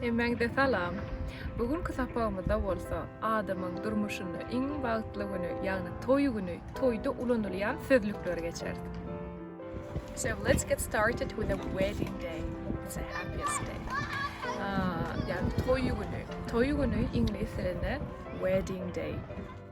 Hemmäňize salam! Bu günki sapagymyzda bolsa adamyň durmuşynda iň bagtly güni, ýagny toý güni, toýda ulanylýan sözlükleri geçeris. So let's get started with a wedding day. It's a happiest day. Ýagny toý güni. Toý güni iňlis dilinde wedding day.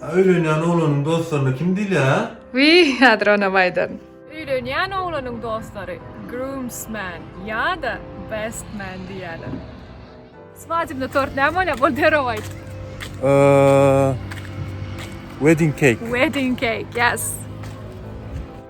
Öýlenýän oglanyň dostlaryna kim diýilýär? Wiý, häzir onam aýdaryn. Öýlenýän oglanyň dostlary groomsman ýa-da best man diýýärler. Swadybnyý tort näme bolýar? Bol derrew aýt. Wedding cake. Wedding cake, ýes.